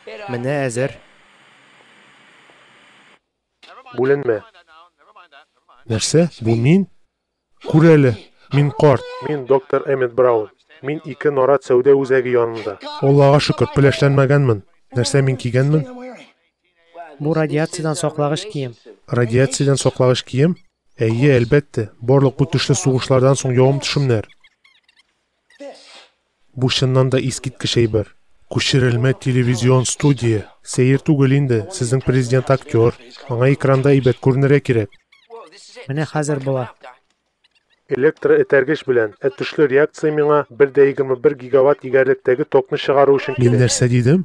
Менә әзер. Бүленмә. Нәрсә? Бу мин? Күр әле, мин карт. Мин, доктор Эммет Браун. Мин ике нарат сәүдә үзәге янында. Аллага шөкер, пеләшләнмәгәнмен. Нәрсә мин кигәнмен? Бу радиациядән саклагыч кием. Радиациядән саклагыч кием? Әйе, әлбәттә, барлык бу төшле сугышлардан соң явым-төшемнәр. Бу чыннан да искиткеч әйбер. Күчерелмә телевизион студия. Сәер түгел инде, сезнең президент актер, аңа экранда әйбәт күренергә кирәк. Менә хәзер була. Электроэтәргеч белән, ә төшле реакция миңа бер дә егерме бер гигаватт егәрлектәге токны чыгару өчен кирәк. Мин нәрсә дидем?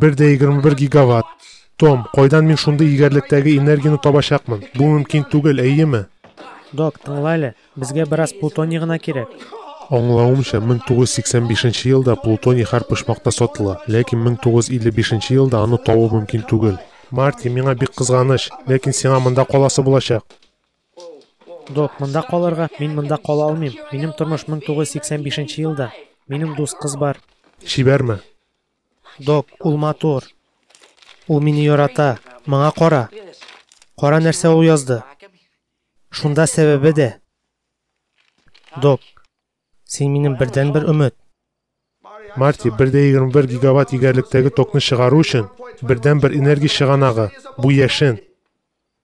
Бер дә егерме бер гигаватт. Том, кайдан мин шундый егәрлектәге энергияне табачакмын? Бу мөмкин түгел, әйеме? Док, тыңла әле, безгә бераз плутоний гына кирәк. Аңлавымча, 1985 елда плутоний һәр почмакта сатыла, ләкин 1955 елда аны табу мөмкин түгел. Марти, миңа бик кызганыч, ләкин сиңа монда каласы булачак. Док, монда калырга мин монда кала алмыйм. Минем тормыш 1985 елда. Минем дус кыз бар. Чибәрме? Док, ул матур. Ул мине ярата. Моңа кара. Кара нәрсә ул язды. Шунда сәбәбе дә. Док, син минем бердәнбер өмет. Марти, бер дә 21 гигаватт егәрлектәге токны чыгару өчен бердәнбер энергия чыганагы, бу яшен.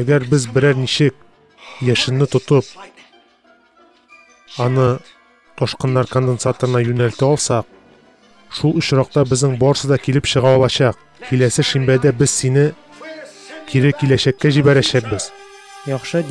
Әгәр без берәр ничек яшенне тотып, аны ташкыннар конденсаторына юнәлтә алсак, шул очракта безнең барысы да килеп чыга алачак. Киләсе шимбәдә без сине кире киләчәккә җибәрәчәкбез. Яхшы